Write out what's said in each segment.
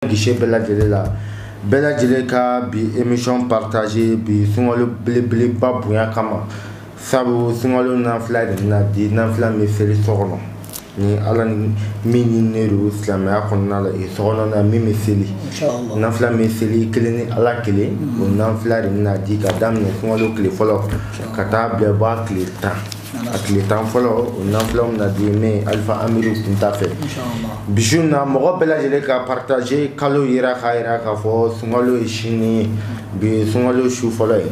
gise bɛɛ lajɛlen la bɛɛ lajɛlen ka bi emission partage bi sunkalo belebeleba bonya kama sabu sunkalo nafila de bɛna di nafila bɛ seli so kɔnɔ ni ala ni min ɲininen don silamɛya kɔnɔna la e so kɔnɔ na min bɛ seli nafila bɛ seli kelen ni ala kelen o nafila de bɛna di ka daminɛ sunkalo tile fɔlɔ ka taa bila bɔ a tile tan a tile tan fɔlɔ o nafila bɛna di ne alifa amiru kunta fɛ bi su na mɔgɔ bɛɛ lajɛlen ka partage kalo yera k'a yira k'a fɔ sunkalo ye sini ye bi sunkalo su fɔlɔ ye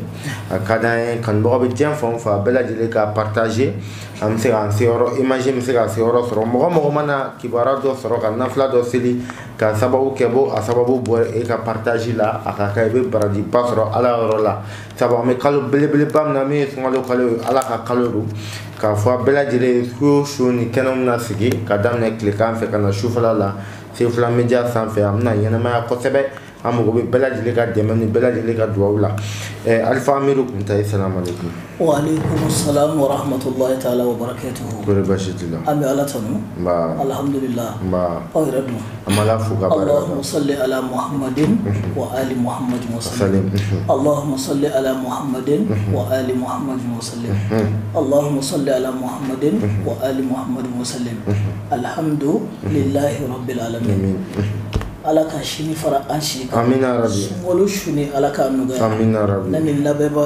a ka d'an ye kanubagaw bɛ diɲɛ fan o fan bɛɛ lajɛlen ka partage an bɛ se k'an se yɔrɔ image bɛ se ka se yɔrɔ sɔrɔ mɔgɔ mɔgɔ mana kibaruya dɔ sɔrɔ ka nafila dɔ seli ka sababu kɛ bo a sababu bɔ e ka partage la a ka kan i bɛ barajiba sɔrɔ ala yɔrɔ la sabu an bɛ kalo belebeleba min na min ye sunkalo kalo ye ala ka kalo don k'a fɔ a bɛɛ lajɛlen ye su o su nin kɛnɛ bɛna sigi ka daminɛ tilekan fɛ ka na sufɛla la sefula media sanfɛ a bɛna ɲɛnamaya kosɛbɛ an mago bɛ bɛɛ lajɛlen ka dɛmɛ ni bɛɛ lajɛlen ka dugawu la eh, alifa amiru kunta salamaleykum waaleykum salam warahmatulahi taala wabarakatuhu kori basi t'i la an bɛ ala tanu alhamdulilah aw yɛrɛ dun Ala fo ka sali ala muhad wa ali muhad sa ala sali ala muhad wa ali muhad sa ala sali ala muhad wa ali muhad sa alihamdu lahi bɛla ala ka sini fara an si ka sun ni ala ka nɔgɔya labɛnbɛba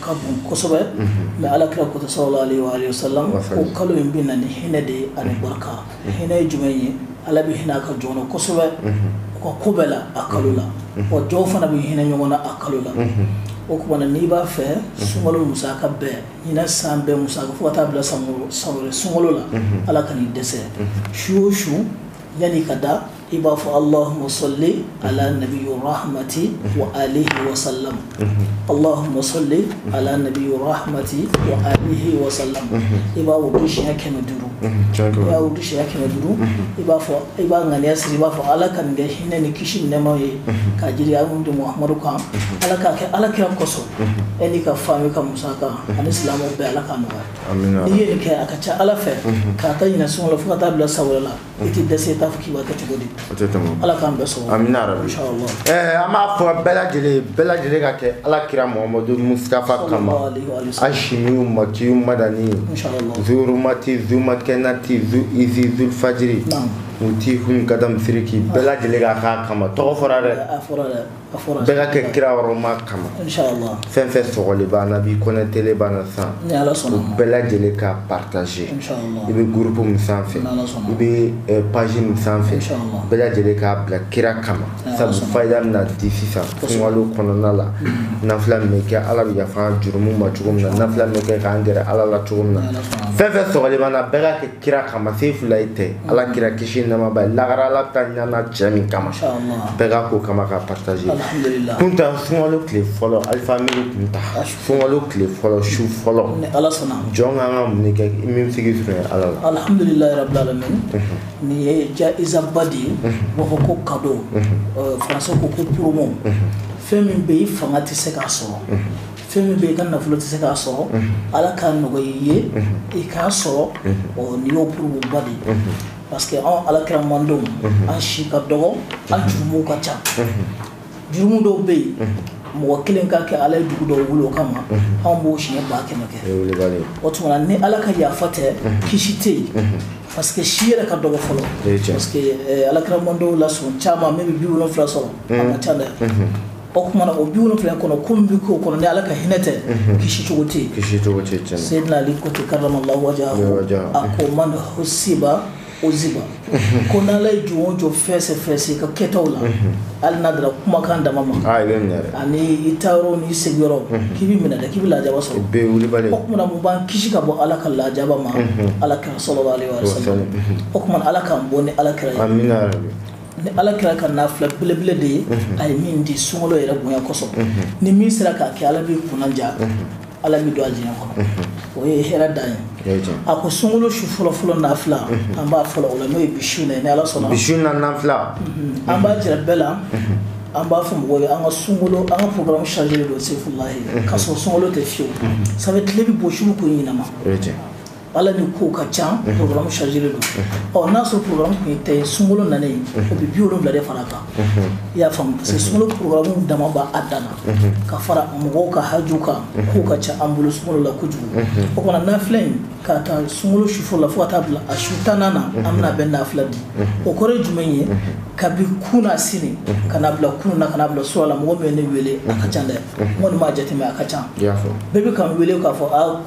ka bon kosɛbɛ mɛ ala kira ko Sallallahu alaihi wa sallam ko kalo in bɛ na ni hinɛ de ye ani barika hinɛ ye jumɛn ye ala bɛ hinɛ a ka jɔnw na kosɛbɛ u ka ko bɛɛ la a kalo la wa jɔnw fana bɛ hinɛ ɲɔgɔn na a kalo la o tuma na n'i b'a fɛ sunkalo musaka bɛɛ ɲinɛ san bɛɛ musaka fo ka taa bila san wɛrɛ sunkalo la ala kan'i dɛsɛ su o su yan'i ka da i b'a fɔ allahuma sɔli ala nabi rahmati wa alihi wa salam allahuma sɔli ala nabi rahmati wa alihi wa salam i b'a wurudi siɲɛ kɛmɛ duuru i b'a wurudi siɲɛ kɛmɛ duuru i b'a fɔ i b'a ŋaniya siri i b'a fɔ ala ka nin kɛ hinɛ ni kisi ni nɛɛma ye ka jigin an matigi muhamadu kan ala k'a kɛ ala kira kosɔn e n'i ka fami ka musaka ani silamɛw bɛɛ ala k'a nɔgɔya n'i ye nin kɛ a ka ca ala fɛ k'a ta ɲinɛ sunkalo fo ka taa bila san wɛrɛ la i tɛ dɛsɛ i t'a fɔ k'i b'a kɛ cogo di o tɛ tɛmɛ ala k'an bɛɛ sɔrɔ amina rabi inshallah ɛɛ an b'a fɔ bɛɛ lajɛlen ye bɛɛ lajɛlen ka kɛ ala kira muhamadu mustafa kama Sallallahu alaihi wa sallam. ashimiyu makiyu madani inshallah zurumati zumakɛnati zu izi zulfajiri Naam. muti hun kadam siriki bɛɛ lajɛlen ka k'a kama tɔgɔ fɔra dɛ a fɔra dɛ bɛɛ ka kɛ kira hɔrɔma kama fɛn fɛn sɔgɔlen b'an na bi connectélen b'an na san u bɛɛ lajɛlen ka partage i bɛ groupe min sanfɛ i bɛ eh, page min sanfɛ bɛɛ lajɛlen k'a bila kira kama sabu fayida bɛna di sisan sunkalo kɔnɔna la mm-hmm. nafila min bɛ kɛ ala bɛ yafa jurumu ma cogo min na nafila min bɛ kɛ k'an gɛrɛ ala la cogo min na fɛn fɛn sɔgɔlen b'an na bɛɛ ka kɛ kira kama sefulayi tɛ ala mm. kira kisi nɛɛma b'a ye lagarɛ ala ta ɲana cɛ min kama bɛɛ ka ko kama ka partager kunta sunkalo tile fɔlɔ alifa amiru kunta sunkalo tile fɔlɔ su fɔlɔ jɔn kan ka mun kɛ min sigi sɔrɔ ala la alhamdulilayi rabbil alamin mhm. nin ye jaiza ba de ye mhm. b'a fɔ ko cadeau mhm. euh, français ko ko promo fɛn min bɛ i fanga tɛ se k'a sɔrɔ fɛn min bɛ i ka nafolo tɛ se k'a sɔrɔ ala k'a nɔgɔya i ye i k'a sɔrɔ nin y'o promo ba de ye parce que anw alakira mandenw an si ka dɔgɔ an jurumuw ka ca jurumu dɔw bɛ yen mɔgɔ kelen k'a kɛ ala ye dugu dɔw wuli o kama anw b'o siɲɛ ba kɛmɛ kɛ o tuma ni ala ka yafa tɛ kisi tɛ yen parce que si yɛrɛ ka dɔgɔ fɔlɔ parce que alakira mandenw la sɔn caman min bɛ bi wolonwula sɔrɔ a ka ca dɛ o kuma na o bi wolonwula kɔnɔ ko min bɛ k'o kɔnɔ ni ala ka hinɛ tɛ kisi cogo tɛ yen kisi cogo tɛ yen seyidina ali ko ten karamallahu wajahahu a ko man husiba uziba ko n'ala ye jɔn o jɔn fɛsɛ fɛsɛ ka kɛtaw la hali n'a dara kumakan dama ma a bɛ minɛ dɛ ani i taa yɔrɔ n'i sigi yɔrɔ k'i bɛ minɛ dɛ k'i bɛ lajaba sɔrɔ bɛɛ wulibali o kuma na mun b'an kisi ka bɔ ala ka lajaba ma ala kira sallallahu alayhi wa sallam o kuma na ala k'an bɔ ni ala kira ye amina yarabi ni ala kira ka nafila belebele de ye a ye min di sunkalo yɛrɛ bonya kosɔn ni min sera k'a kɛ ala b'i kunnaja ala b'i don alijinɛ kɔnɔ o ye hɛrɛ dan ye a ko sunkalo su fɔlɔfɔlɔ nafila an b'a fɔlɔ o la n'o ye bi su na ni ala sɔnna bi su na nafila an b'a jira bɛɛ la an b'a fɔ mɔgɔw ye an ka sun an ka programme chargé de don sefulayi ka sɔrɔ sunkalo tɛ fiyewu sabu tile bɛ bɔ su ko ɲɛnama Ala ni ko ka ca programme chargé don ɔ n'a sɔrɔ programme tun ye tan sunkalo nalen o bɛ bi wolonwula de fara a kan i y'a faamu parce que sunkalo programme dama b'a dan na ka fara mɔgɔw ka haju kan ko ka ca an bolo sun la kojugu o kuma na nafila in k'a ta sunkalo su fɔlɔ la fo ka taa bila a su tannan na an bɛna bɛɛ nafila di o kɔrɔ jumɛn ye kabi kunasini ka bila kunun na ka na bila surɔ la mɔgɔ bɛ ne weele a ka ca dɛ mɔgɔ b'a jate a ka ca bɛɛ bɛ ka weele k'a fɔ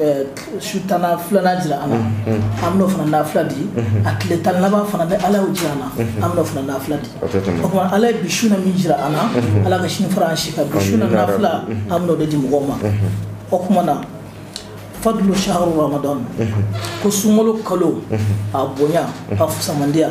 Eh, su tan filanan jira an na an bɛn'o fana nafila di a tile tan laban fana ni ala y'o jira an na an bɛn'o fana nafila di o kuma na ala ye bi su na min jira an na ala ka sini fara an si kan bi su na nafila an bɛn'o de di mɔgɔw ma o kuma na fadlu shahru ramadan ko sunkalo kalo a bonya a fisamantiya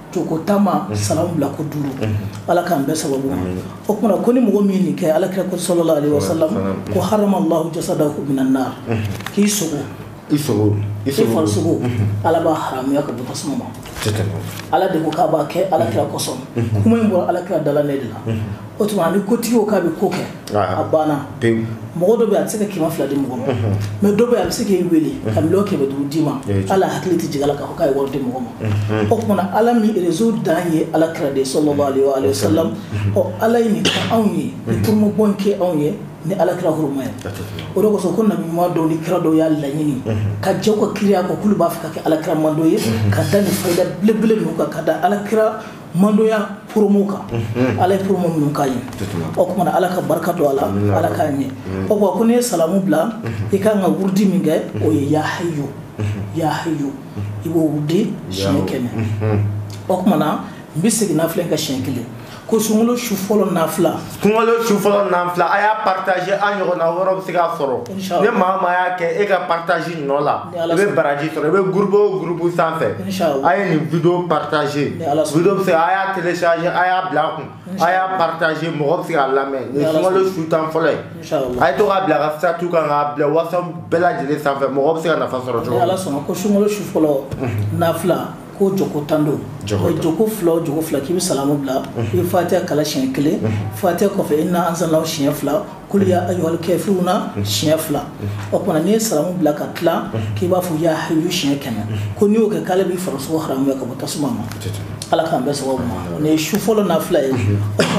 jɔ ko tan a salamu bila ko duuru ala k'an bɛn a sababu ma o tuma ko ni mɔgɔ min nin kɛ alakira ko sallallahu alayhi wa sallam ko harama allahu jasadahu minan nar k'i sogo i farisogo ala b'a haramuya ka bɔ tasuma ma ala de ko k'a b'a kɛ alakira kosɔn kuma in bɔra alakira dala ne de la o tuma a bɛ kotigi k'a bɛ ko kɛ a banna mɔgɔ dɔ bɛ a bɛ se ka kɛmɛ fila di mɔgɔ ma mais dɔ bɛ a bɛ se k'i weele ka kɛmɛ duuru d'i ma ala hakili tɛ jigin a la k'a ye wari di mɔgɔ ma o tumana ala min réseau dan ye ala kira de sallallahu alaihi wa sallam ala ye nin kɛ anw ye promoba kɛ anw ye ni ala kira huruma ye o de kosɔn ko nabi ɲuman dɔw ni kira dɔw y'a laɲini ka jɛ u ka kiraya kɔ k'olu b'a fɛ ka kɛ ala kira mando ye ka da nin fayida belebele kan ka da ala ki mandoya promo kan mhm. ala ye promo minnu k'a ye o kumana ala ka barika don a la ala k'a ɲɛ o kuma ko n'i ye salamu bila mhm. i kan ka wurudi min kɛ o ye ya hayyu mhm. ya hayyu i b'o wurudi siɲɛ kɛmɛ o kumana n bɛ segin nafila kan siɲɛ kelen ko sunkalo su fɔlɔ nafila sunkalo su fɔlɔ nafila a y'a partager an ɲɔgɔnna wɛrɛw bɛ se k'a sɔrɔ ni maa o maa y'a kɛ e ka partage nɔ la i bɛ baraji sɔrɔ i bɛ groupe o groupe sanfɛ a ye nin video partager video bɛ se a y'a télécharger a y'a bila a kun a y'a partager mɔgɔ bɛ se k'a lamɛn nin sunkalo su tan fɔlɔ ye a ye to k'a bila a ka statut kan k'a bila whatsapp bɛɛ lajɛlen sanfɛ mɔgɔ bɛ se ka nafa sɔrɔ cogo min ni Ala sɔnna ko sunkalo su fɔlɔ nafila ko jɔko tan don jɔko fila jɔko fila k'i bɛ salamu bila i bɛ fatiya kalan siɲɛ kelen fatiya kɔfɛ inna anzalnahu siɲɛ fila kul ya ayyuhal kafiruna siɲɛ fila o tuma n'i ye salamu bila ka tila k'i b'a fɔ ya hayyu siɲɛ kɛmɛ ko n'i y'o kɛ k'ala b'i farisogo haramuya ka bɔ tasuma ma ala k'an bɛɛ sababu ma nin ye su fɔlɔ nafila ye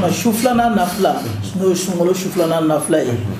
o su filanan nafila n'o ye sunkalo su filanan nafila ye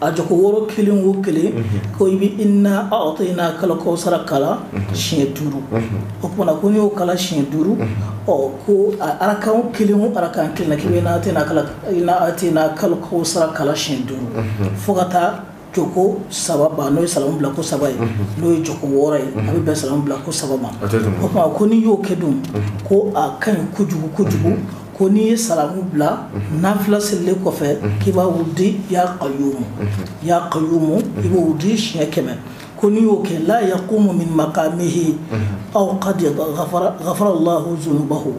a jɔko wɔɔrɔ kelen wo kelen ko i bɛ inna a'tayna kal kawsara kalan siɲɛ duuru o tumana ko n'i y'o kalan siɲɛ duuru ɔ ko arakan kelen wo arakan kelen k'i bɛ inna a'tayna kalan inna a'tayna kal kawsara kalan siɲɛ duuru fo ka taa jɔko saba ban n'o ye salamu bila ko saba ye n'o ye jɔko wɔɔrɔ ye a bɛ bɛn salamu bila ko saba ma o tuma ko n'i y'o kɛ dun ko a ka ɲi kojugu kojugu ko n'i ye salamu bila nafila selilen kɔfɛ k'i b'a wudi ya kayumu ya kayumu i b'o wudi siɲɛ kɛmɛ ko n'i y'o kɛ la yakumu min makamihi aw qad ghafara Allahu zunubahu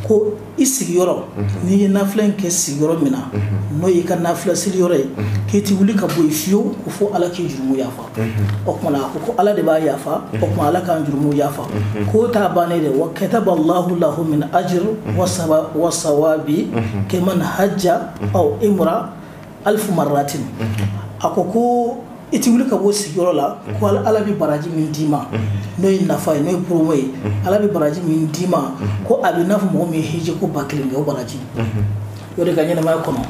ko i sigiyɔrɔ n'i ye nafila in kɛ sigiyɔrɔ min na n'o y'i ka nafila seli yɔrɔ ye k'i ti wuli ka bɔ yen fiyewu ko fo Ala k'i jurumu yafa o tumana a ko ko ala de b'a yafa o tuma ala k'an jurumu yafa k'o t'a bannen de wa kataba allahu lahu min ajr wa sawabi kaman hajja aw imra alfu marratin a ko ko i ti wuli ka bɔ sigiyɔrɔ la ko ala bɛ baraji min d'i ma n'o ye nafa ye n'o ye promo ye ala bɛ baraji min d'i ma ko a bɛ n'a fɔ mɔgɔ min ye hiji ko ba kelen kɛ o baraji O de ka ɲɛnamaya kɔnɔ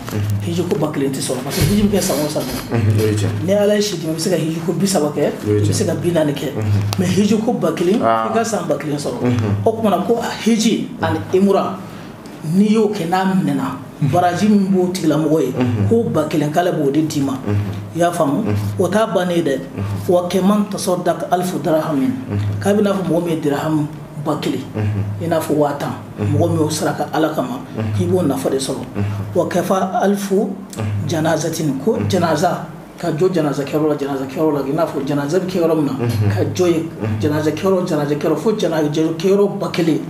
hiji ko ba kelen tɛ sɔrɔ parce que hiji bɛ kɛ san o san ni ala ye si d'i ma i bɛ se ka hiji ko bi saba kɛ i bɛ se ka bi naani kɛ mais hiji ko ba kelen i ka san ba kelen sɔrɔ o tuma na ko hiji ani umura n'i y'o kɛ n'a minɛna baraji min b'o tigilamɔgɔ ye ko ba kelen k'ala b'o de d'i ma i y'a faamu o t'a bannen ye dɛ wa kaman tasaddaqa alfa dirhamin k'a bɛ i n'a fɔ mɔgɔ min ye dirhami ba kelen i n'a fɔ waa tan mɔgɔ min y'o saraka ala kama k'i b'o nafa de sɔrɔ waqafa alfa janazatin ko janaza ka jɔ janaza kɛyɔrɔ la janaza kɛyɔrɔ la i n'a fɔ janaza bɛ kɛ yɔrɔ min na ka jɔ ye janaza kɛyɔrɔ janaza kɛyɔrɔ fo janaza kɛyɔrɔ ba kelen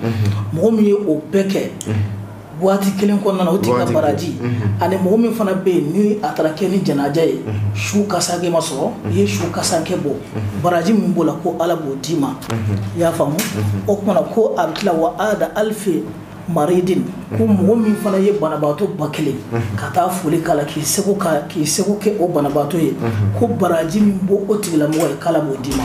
mɔgɔ min ye o bɛɛ kɛ waati kelen kɔnɔna o tigi ka baraji mhm. ani mɔgɔ min fana bɛ yen ni a taara kɛ ni janaja ye mhm. su kasankɛ ma sɔrɔ mhm. i ye su kasankɛ bɔ baraji min b'o la ko ala b'o d'i ma i y'a faamu o tuma na ko a bɛ tila wa aada alfa maridin ko mɔgɔ min fana ye banabaatɔ ba kelen ka taa foli k'a la k'i seko k'a k'i seko kɛ o banabaatɔ ye ko baraji min b'o o tigilamɔgɔ ye k'ala b'o d'i ma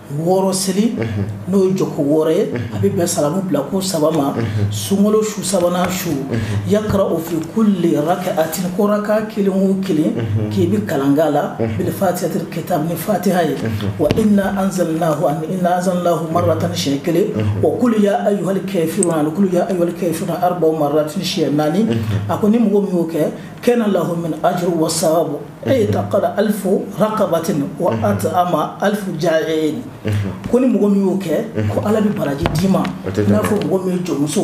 wɔɔrɔ seli n'o ye jɔko wɔɔrɔ ye a bɛ bɛn salamu bila ko saba ma sunkalo su sabanan su yaqra'u fi kulli rakaatin ko raka kelen o kelen k'i bɛ kalan k'a la bi fatihatil kitab ni fatiha ye wa inna anzalna anzalna marratan siɲɛ kelen wa qul ya ayyuhal kafirun qul ya ayyuhal kafirun arba'a marratin siɲɛ naani a ko ni mɔgɔ min y'o kɛ kana lahu min ajri wa sawabu a'taqa alfa raqabatin wa mhm. at'ama alfa ja'i'in mhm. ko ni mɔgɔ min y'o kɛ mhm. ko ala bɛ baraji d'i ma i n'a fɔ mɔgɔ min ye jɔnmuso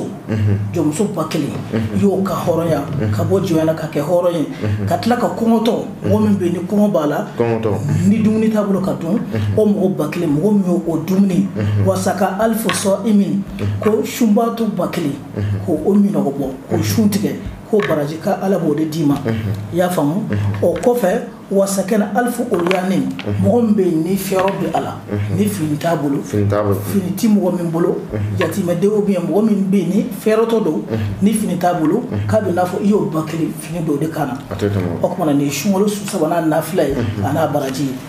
jɔnmuso ba kelen i y'o ka hɔrɔnya ka bɔ jɔnya la ka kɛ hɔrɔn ye ka tila ka kɔngɔtɔ mɔgɔ min bɛ yen ni kɔngɔ b'a la ni dumuni t'a bolo ka dun o mɔgɔ ba kelen mɔgɔ min y'o o dumuni wa saqa alfa sa'imin ko sunbaatɔ ba kelen k'o minnɔgɔ bɔ k'o sun tigɛ k'o baraji k'ala b'o de d'i ma i y'a faamu o kɔfɛ wa sakana alfa uryanin mɔgɔ min bɛ yen ni fɛrɔ bɛ a la ni fini t'a bolo fini tɛ mɔgɔ min bolo yatimɛdenw bɛ yen mɔgɔ min bɛ yen ni fɛrɔtɔ don ni fini t'a bolo k'a bɛ i n'a fɔ i y'o ba kelen fini don de kan na o tuma na nin ye sunkalo su sabanan nafila ye a n'a baraji ye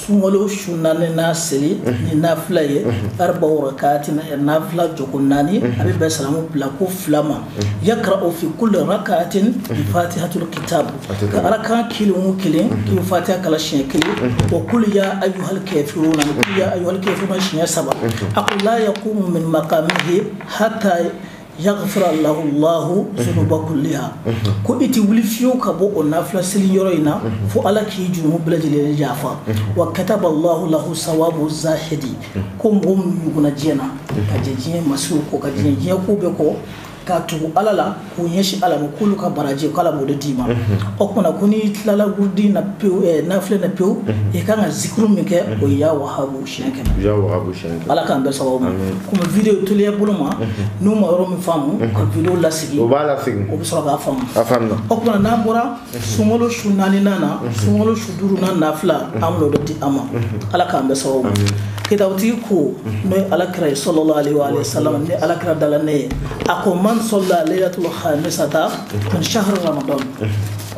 sunkalo su naaninan seli ni nafila ye arba'u rakaatin nafila jɔko naani a bɛ bɛn salamu bila ko fila ma yaqra'u fi kulli rakaatin bi fatihatil kitab ko raka kelen o kelen k'i bɛ fatiha kalan siɲɛ kelen wa qul ya ayyuhal kafiruna ni qul ya ayyuhal kafiruna siɲɛ saba a ko la yaqumu min maqamihi hatta Yagafira lahu lahu zunuba kuliha ko i tɛ wuli fiyewu ka bɔ o nafila seli yɔrɔ in na fo ala k'i jurumu bɛɛ lajɛlen yafa wa kataba lahu lahu sawabu zaahidi ko mɔgɔ minnu nugunna diɲɛ na ka jɛ diɲɛ masiri kɔ ka jɛ diɲɛ ko bɛɛ kɔ ka tugu ala la k'u ɲɛsin ala ma k'olu ka baraji k'ala b'o de d'i ma o tuma na ko n'i tilala wurudi na pewu nafila na pewu i ka kan ka zikuru min kɛ o ya waha siɲɛ kɛmɛ ya wahabu siɲɛ kɛmɛ ala k'an bɛɛ sababu ma komi video teliya bolo ma n'u ma yɔrɔ min faamu ka video lasegin o b'a lasegin o bɛ sɔrɔ k'a faamu a faamuna o tuma n'an bɔra sunkalo su naaninan na sunkalo su duurunan nafila an bɛn'o de di aw ma ala k'an bɛɛ sababu ma kitabutigi ko n'o ye ala kira ye salalahu alayhi wa salam ni ala kira dala ne ye a ko man sala laylatul khamisata min shahri ramadan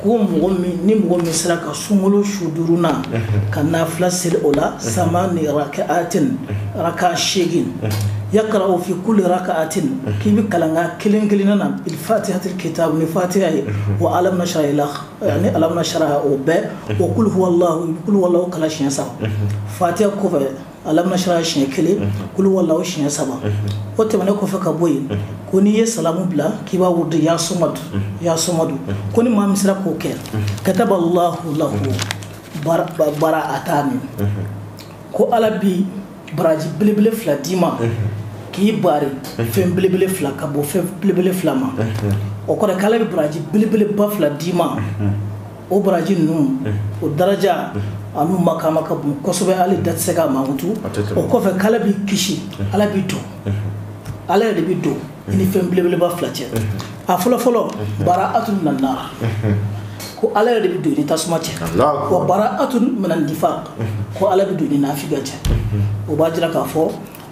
ko mɔgɔ ni mɔgɔ min sera ka sunkolo su duurunan ka nafila seli o la samani raka'atin arakan segin yakara'u fi kuli raka'atin k'i bɛ kalan rakan kelen kelen na fatihatul kitabi ni fatiya ye wa alam nasara ila yani alam nasara o bɛɛ wa kuluwa kuluwa kalan siɲɛ saba fatiya kɔ kɔfɛ alam nasara siɲɛ kelen kul huwalahu siɲɛ saba o tɛmɛn kɔfɛ ka bɔ yen ko n'i ye salamu bila k'i b'a wurudu ya somadu ya somadu ko ni maa min sera k'o kɛ kataba lahu lahu bara'atani ko ala bɛ baraji belebele fila d'i ma k'i bari fɛn belebele fila ka bɔ fɛn belebele fila ma o kɔrɔ k'ala bɛ baraji belebeleba fila d'i ma o baraji ninnu o daraja an'u makaama ka bon kosɛbɛ hali da tɛ se k'a mankutu o kɔfɛ k'ala b'i kisi ala b'i don ala yɛrɛ de bɛ don i ni fɛn belebeleba fila cɛ a fɔlɔfɔlɔ bara'atun mina nari ko ala yɛrɛ de bɛ don i ni tasuma cɛ wa bara'atun mina nifaki ko ala bɛ don i ni naafigiya cɛ o b'a jira k'a fɔ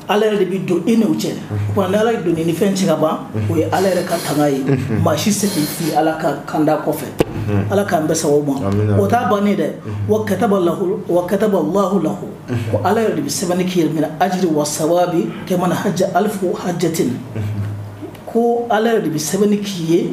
Ala yɛrɛ de bɛ don i n'u cɛ wa ni ala don i ni fɛn cɛ ka ban o ye ala yɛrɛ ka tanga ye maa si se t'i la ala ka kanda kɔfɛ ala k'an bɛɛ sababu ma o t'a bannen dɛ wa kata la wa kataba lahu lahu ko ala yɛrɛ de bɛ sɛbɛnni k'i ye mina ajiri wa sawabi kaman haja alifu hajatin ko ala yɛrɛ de bɛ sɛbɛnni k'i ye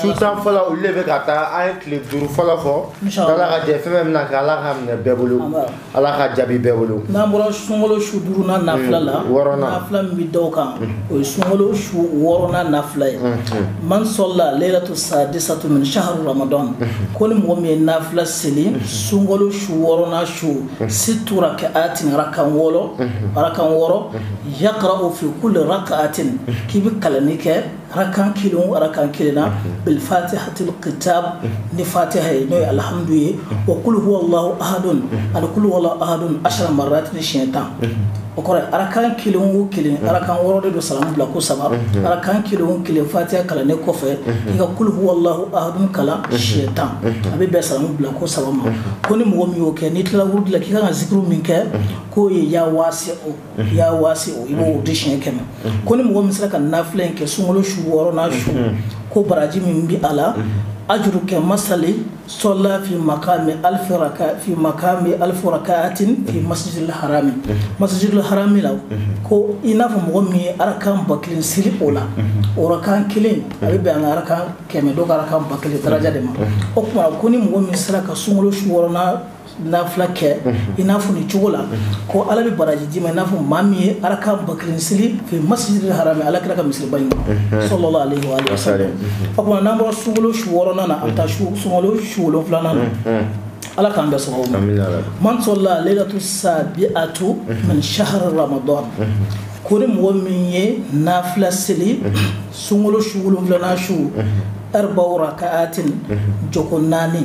su tan fɔlɔ olu de bɛ ka taa an ye tile duuru fɔlɔ fɔ ala ka jɛn fɛn bɛna kɛ ala k'a minɛ bɛɛ bolo ala k'a jaabi bɛɛ bolo n'an bɔra sunkolo su duurunan nafila la mm, wɔɔrɔnan nafila min bɛ d'o kan mm. o ye sunkolo su wɔɔrɔnan nafila ye mm, man sala layilatu sadisatu min saharu ramadan ko ni mɔgɔ min ye nafila seli sunkolo su wɔɔrɔnan su situ raka'atin arakan wɔɔrɔ arakan wɔɔrɔ yakara'u fi kuli raka'atin k'i bɛ kalanni kɛ arakan kelen o arakan kelen na bilfatihatil kitab ni fatiha ye n'o ye alhamdu ye wa kulu huwa allahu ahadun ani kulu huwa allahu ahadun ashara marat ni siɲɛ tan o kɔrɔ ye arakan kelen o kelen arakan wɔɔrɔ de don salamu bila ko saba arakan kelen o kelen fatiha kalannen kɔfɛ i ka kulu huwa allahu ahadun kalan siɲɛ tan a bɛ bɛn salamu bila ko saba ma ko ni mɔgɔ min y'o kɛ n'i tilala wurudi la k'i kan ka zikiri min kɛ k'o ye ya waasi'u ya waasi'u i b'o di siɲɛ kɛmɛ ko ni mɔgɔ min sera ka nafila in kɛ sunkalo su wɔɔrɔnan su ko baraji min bɛ a la ajuru ka masali sɔla fi makami alifara fi makami alifa rakayatin fi masjidil harami masjidil harami la ko i n'a fɔ mɔgɔ min ye arakan ba kelen seli o la o arakan kelen a bɛ bɛn an ka arakan kɛmɛ dɔ ka arakan ba kelen daraja de ma o tuma ko ni mɔgɔ min sera ka sunkalo su wɔɔrɔnan nafila kɛ i n'a fɔ nin cogo la ko ala bɛ baraji d'i ma i n'a fɔ maa min ye arakan ba kelen seli masjidil harami ala kira ka misiriba in sallallahu alaihi wa sallam o tuma n'an bɔra sunkalo su wɔɔrɔnan na an bɛ taa sunkalo su wolonfilanan na ala k'an bɛɛ sababu ma man sɔla leilatu sabi'atu min shahari ramadan ko ni mɔgɔ min ye nafila seli sunkalo su wolonwulanan su arba'a raka'at joko naani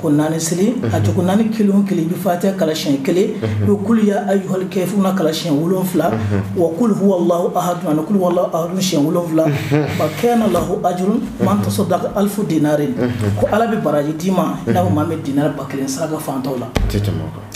ko naani seli a cogo naani kelen kelen bɛ fatɛ kalay kelen u kulu y' ayihɔli kɛ f na kalayɛn wolonwula wa kulu hwaladuduwaladuy wolonwula ba kɛ na lah aj man tasɔ da alifu dre ko ala bɛ baraji d'i ma n'a ma bɛ di ba kelen saraka fantanw la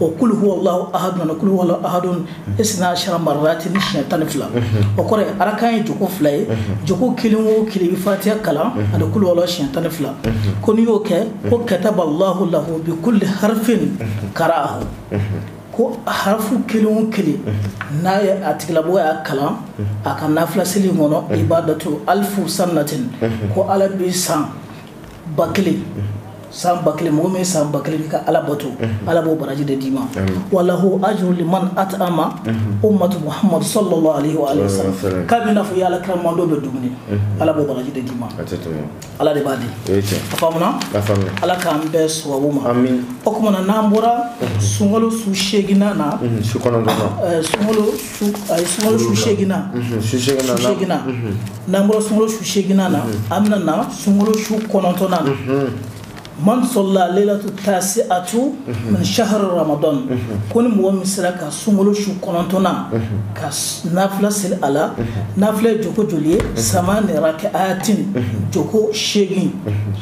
wa kulu huwa allahu ahadu ani kulu huwa allahu ahadun isina ashara maratin siɲɛ tan ni fila o kɔrɔ ye arakan ye joko fila ye joko kelen wo kelen fatiha kalan ani kulu huwa allahu siɲɛ tan ni fila ko n'i y'o kɛ ko kataba allahu lahu bi kulu harifin kara ko harafu kelen wo kelen n'a ye a tigilamɔgɔ y'a kalan a ka nafila seli in kɔnɔ ibadatu alifu sanatin ko ala bɛ san ba kelen san ba kelen mɔgɔ min san ba kelen kɛ ka ala bato ala b'o baraji de d'i ma wa lahu ajuru man atama umatu muhamadu sallallahu alaihi wa sallam k'a bɛ n'a fɔ i y'ala kira mantɔn bɛɛ dumuni ala b'o baraji de d'i ma ala de b'a di a faamuna ala k'an bɛɛ sababu ma o tuma na n'an bɔra sunkalo su seeginna na sunkalo a ye sunkalo su seeginna mhm, su seeginna mhm. n'an bɔra sunkalo su seeginna na mhm. an bɛna na sunkalo su kɔnɔntɔnna na man sɔla leilatu taasi'atu min shahari ramadan ko ni mɔgɔ min sera ka sunkalo su kɔnɔntɔnna ka nafila seli a la nafila ye joko joli ye samaniya rakayatin joko seegin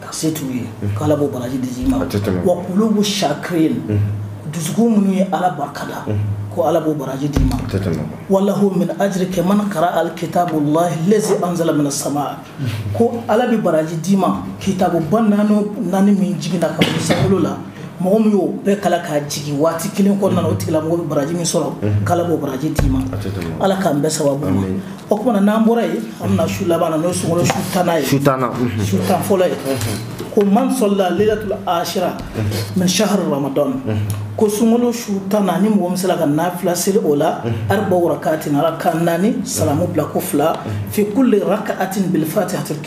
ka se t'u ye mhm. k'ala b'o baraji d'i ma wa qulubu shakirin mhm. dusukun minnu ye ala barikada mhm. ko ala b'o baraji d'i ma walahu min ajri ka man qara'a al kitabu lahi lazi anzala min sama ko ala bɛ baraji d'i ma kitabu ba naani min jiginna ka bɔ sankolo la mɔgɔ min y'o bɛɛ kalan k'a jigin waati kelen kɔnɔna na o tigilamɔgɔ bɛ baraji min sɔrɔ mhm. k'ala b'o baraji d'i ma ala k'an bɛn sababu ma o kumana n'an bɔra yen an bɛna su laban na n'o ye sunkalo su tannan ye su tan mhm. fɔlɔ ye mhm. ko man salla laylatul ashira min shahr ramadan ko sunkalo su tannan ni mɔgɔ min sera ka nafila seli o la arba'u raka'atin raka naani salamu bila ko fila fi kulli raka'atin bil fatihatil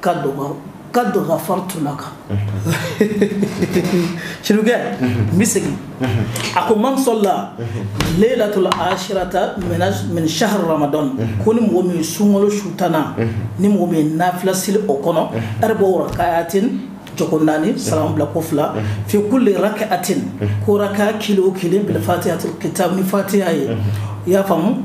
ka dɔgɔ qad ghafartu laka sirikɛ n bɛ segin a ko man salla laylatul ashirata min shahr ramadan ko ni mɔgɔ min sunkalo su tannan ni mɔgɔ min nafila seli o kɔnɔ arba'u raka'atin jɔko naani salamu bila ko fila fi kulli raka'atin ko raka kelen o kelen bil fatihatil kitab ni fatiha ye i y'a faamu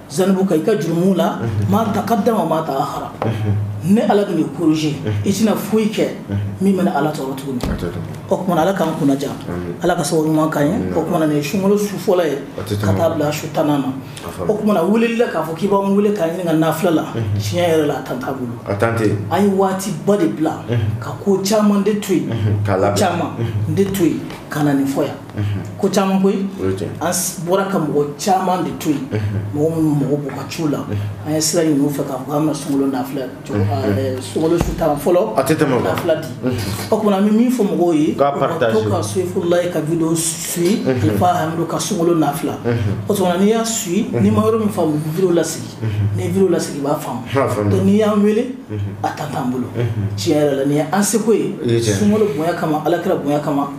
zunubaka i ka jurumu la ma taqaddama ma ta'akhara ne ala b'i kɔrɔsi i tɛna foyi kɛ min bɛ ala tɔɔrɔ tuguni o kumana ala k'an kunnaja ala ka sababu ɲuman k'an ye o kumana nin ye sunkalo su fɔlɔ ye ka taa bila su tan na o kumana weleli la k'a fɔ k'i b'an wele k'an ɲininka nafila la tiɲɛ yɛrɛ la a temps t'an bolo an ye waati ba de bila ka ko caman de to yen k'a la caman de to yen ka na nin fɔ yan ko caman koyi an bɔra ka mɔgɔ caman de to yen mɔgɔ minnu mɔgɔ b'u ka ciw la an ye sira ɲini u fɛ k'a fɔ an bɛna sunkalo nafila sunkalo su tan fɔlɔ a tɛ tɛmɛ nafila di o kumana an bɛ min fɔ mɔgɔw ye u ka to ka soyifulayi ka video suivi alifa hamidu ka sunkalo nafila o kumana n'i y'a suivi n'i ma yɔrɔ min faamu video lasegin ni video lasegin i b'a faamu donc n'i y'an wele a temps t'an bolo tiɲɛ yɛrɛ la nin ye an seko ye sunkalo bonya kama ala kira bonya kama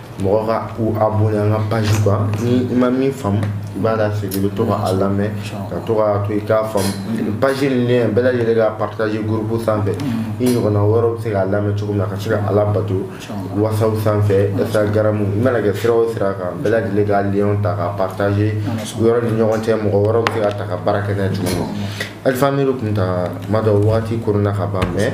mɔgɔ ka u abonné an ka page kan ni i ma min faamu i b'a lasegin i bɛ to ka a lamɛn ka to ka to i k'a faamu page nin lien bɛɛ lajɛlen ka partager groupe sanfɛ i ɲɔgɔnna wɛrɛw bɛ se k'a lamɛn cogo min na ka se ka ala bato whatsapp sanfɛ instagram i mana kɛ sira o sira kan bɛɛ lajɛlen ka lien ta ka partager u yɛrɛ ni ɲɔgɔn cɛ mɔgɔ wɛrɛw bɛ se k'a ta ka baara kɛ n'a ye cogo min na alifa hamidu kunta kuma dɔ waati koronna ka ban mais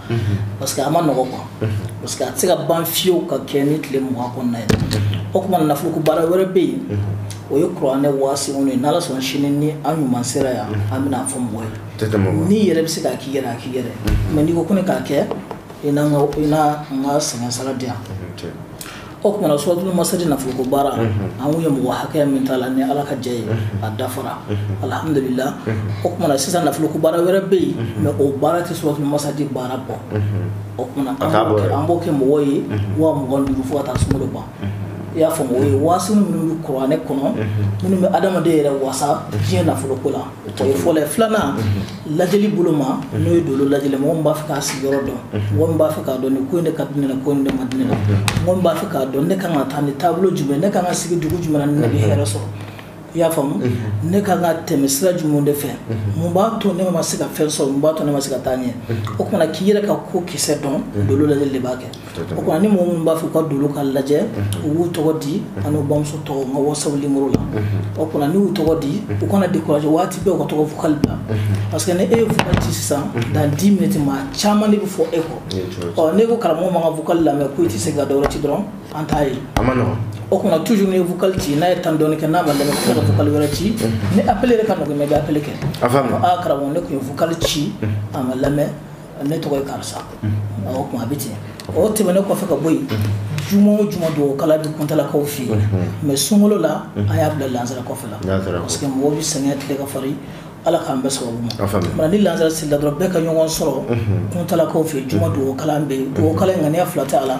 parce que a ma nɔgɔ quoi parce que a tɛ se ka ban fiyew ka kɛ ni tile mugan kɔnɔna ye o kumana nafoloko baara wɛrɛ bɛ yen o ye kuranɛ waa seegin ye n'ala sɔnna sini ni an ɲuman sera yan an bɛn'a fɔ mɔgɔ ye n'i yɛrɛ bɛ se k'a k'i yɛrɛ a k'i yɛrɛ mais n'i ko ko ne k'a kɛ i na n ka sɛgɛn sara di yan O kumana suratu masadi nafolo ko baara an ye mɔgɔ hakɛya min t'a la ni ala ka jɛ ye a dafara alhamdulilahi o kumana sisan nafolo ko baara wɛrɛ bɛ yen mais o baara tɛ suratu masadi baara bɔ o tuma an b'o kɛ mɔgɔw ye waa mugan ni duuru fo ka taa sunkolo ban i y'a faamu o ye waasi minnu bɛ kuranɛ kɔnɔ minnu bɛ adamaden yɛrɛ wasa diɲɛ nafolo ko la o ye fɔlɔ ye filanan lajɛli bolo ma n'o ye dolo lajɛli mɔgɔ min b'a fɛ k'a sigiyɔrɔ dɔn mɔgɔ min b'a fɛ k'a dɔn ni ko in de ka di ne la ko in man di ne la mɔgɔ min b'a fɛ k'a dɔn ne kan ka taa ni taabolo jumɛn ne kan ka sigi dugu jumɛn na ni ne bɛ hɛrɛ sɔrɔ i y'a faamu ne kan ka tɛmɛ sira jumɛn de fɛ mun b'a to ne ma se ka fɛn sɔrɔ mun b'a to ne ma se ka taa ɲɛ o kumana k'i yɛrɛ ka ko kisɛ dɔn dolo lajɛli de b'a kɛ O kumana ni mɔgɔ minnu b'a fɛ u ka dolo ka lajɛ u b'u tɔgɔ di ani u bamuso tɔgɔ n ka WhatsApp la o kumana n'u y'u tɔgɔ di u kana décourager waati bɛɛ u ka to ka vocal bila parce que ni e ye vocal ci sisan dans dix minutes maa caman de bɛ fɔ e kɔ ɔ n'e ko karamɔgɔ ma n ka vocal lamɛn ko e tɛ se ka dɔ wɛrɛ ci dɔrɔn an t'a ye o kumana toujours n'i ye vocal ci n'a ye temps dɔɔni kɛ n'a ma lamɛn ka vocal wɛrɛ ci ni appel ka nɔgɔn i bɛ appel kɛ karamɔgɔ ne tun ye vocal ci a ma lamɛn ne tɔgɔ ye karisa o kuma a bɛ ten o tɛmɛnen kɔfɛ ka bɔ yen juma o juma dugawu kala bɛ kuntalakaw fɛ yen mais sunkolo la an y'a bila lansara kɔfɛ la parce que mɔgɔw bɛ sɛgɛnya tile ka farin ala k'an bɛɛ sababu ma ni lansara selila dɔrɔn bɛɛ ka ɲɔgɔn sɔrɔ kuntalakaw fɛ juma dugawu kala bɛ yen dugawu kala ŋaniya fila tɛ a la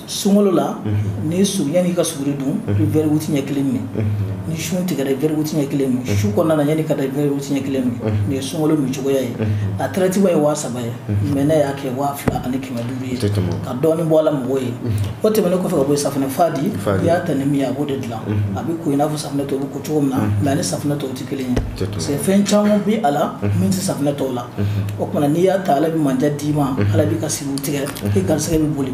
sunkolo la ni su yanni ka suguri dun i bɛ verre huit ɲɛ kelen min ni sun tigɛra i bɛ verre huit ɲɛ kelen min su kɔnɔna na yanni ka da i bɛ verre huit ɲɛ kelen min nin ye sunkolo min cogoya ye a traitement ye waa saba ye mais ne y'a kɛ waa fila ani kɛmɛ duuru ye ka dɔɔnin bɔ a la mɔgɔw ye o tɛmɛnen kɔfɛ ka bɔ yen safunɛ fa di i y'a ta ni min ye a b'o de dilan a bɛ ko i n'a fɔ safunɛ tɔw bɛ ko cogo min na mais a ni safunɛ tɔw tɛ kelen ye parce que fɛn caman bɛ a la min tɛ safunɛ tɔw la o tuma n'i y'a ta ala bɛ mandiya d'i ma ala b'i ka siri tigɛ i garijɛgɛ bɛ boli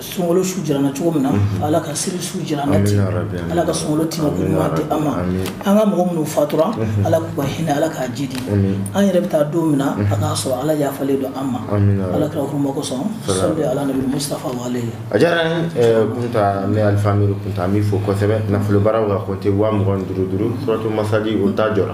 sunkolo su jira an na cogo min na mhm. ala ka seli su jira an na ten ala ka sunkolo tima ko ɲuman di an ma an ka mɔgɔ minnu fatura mhm. ala k'u ka hinɛ ala k'a jiidi an yɛrɛ bɛ taa don min na mhm. a k'a sɔrɔ ala yafalen don an ma ala kira huruma kosɔn sali ala nabi mustafa wale a diyara n ye, kunta ne alifa amiru kunta an b'i fo kosɛbɛ nafolobaaraw ka kɔnte waa mugan ni duuru duuru suratu masadi o ta jɔra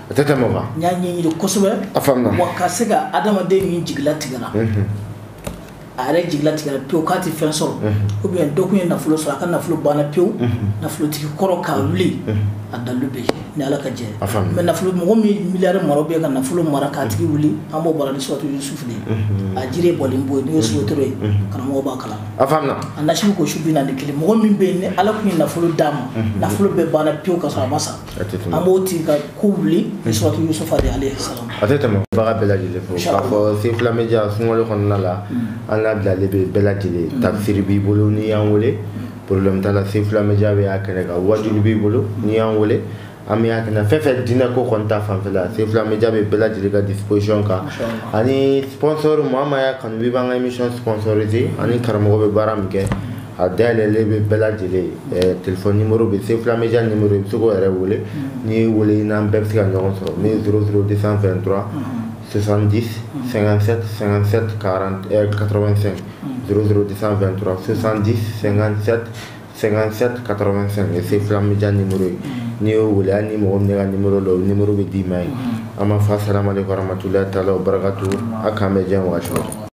A tɛ tɛmɛ o kan. N y'a ɲɛɲini kosɛbɛ. A faamuna. Wa ka se ka adamaden min jigi latigɛla. Unhun. A yɛrɛ jigi latigɛla pewu k'a tɛ fɛn sɔrɔ. Unhun. Ou bien dɔ tun ye nafolo sɔrɔ a ka nafolo banna pewu. Unhun. Nafolotigi kɔrɔ k'a wuli. Unhun. A dalilu bɛ yen ni Ala ka jɛ ye. A faamuna. Mais nafolo mɔgɔ min ye milliard mara ou bien ka nafolo mara k'a tigi wuli an b'o baara ni suratu Yusufu de ye. Unhun. A jiri ye bɔlen bo ye n'o ye sotoro ye. Unhun. Karamɔgɔ b'a kalama. A faamuna. A nasi bɛ ko su bi naani ni kelen mɔgɔ min bɛ yen ni Ala tun ye nafolo d'a ma. Unhun. Nafolo bɛɛ banna pewu k'a sɔrɔ a ma sa. a tɛ tɛmɛ an b'o tigi ka ko wuli ni suratu yusufa de alayhi salam a tɛ tɛmɛ baga bɛɛ lajɛlen fo k'a fɔ Sefula Media sunkalo kɔnɔna la an labilalen bɛ bɛɛ lajɛlen tafsiri b'i bolo n'i y'an wele problème t'a la Sefula Media bɛ y'a kɛnɛ kan wajulu b'i bolo n'i y'an wele an bɛ y'a kɛnɛ fɛn o fɛn diinɛ ko kɔni ta fanfɛla Sefula Media bɛ bɛɛ lajɛlen ka disposition kan ani sponsor maa maa y'a kanu b'i b'an ka émission sponsoriser ani karamɔgɔ bɛ baara min kɛ A dalen bɛ bɛɛ lajɛlen tile nimo bɛ se fula min ni i bɛ se yɛrɛ wele n'i weele in n'an bɛɛ bɛ se ka ɲɔgɔn sɔrɔ n s suru de san fɛn dɔrɔn sonsandi sɛgɛn de san fɛn sonsandi sɛgɛnsɛ ka se fula min ni ye n'i y'o weele ni mɔgɔ minɛ ka ni la nimuru bɛ d'i ma ye an ma fa sirama de fara matula ta la o barikatu a k'an bɛ jan wa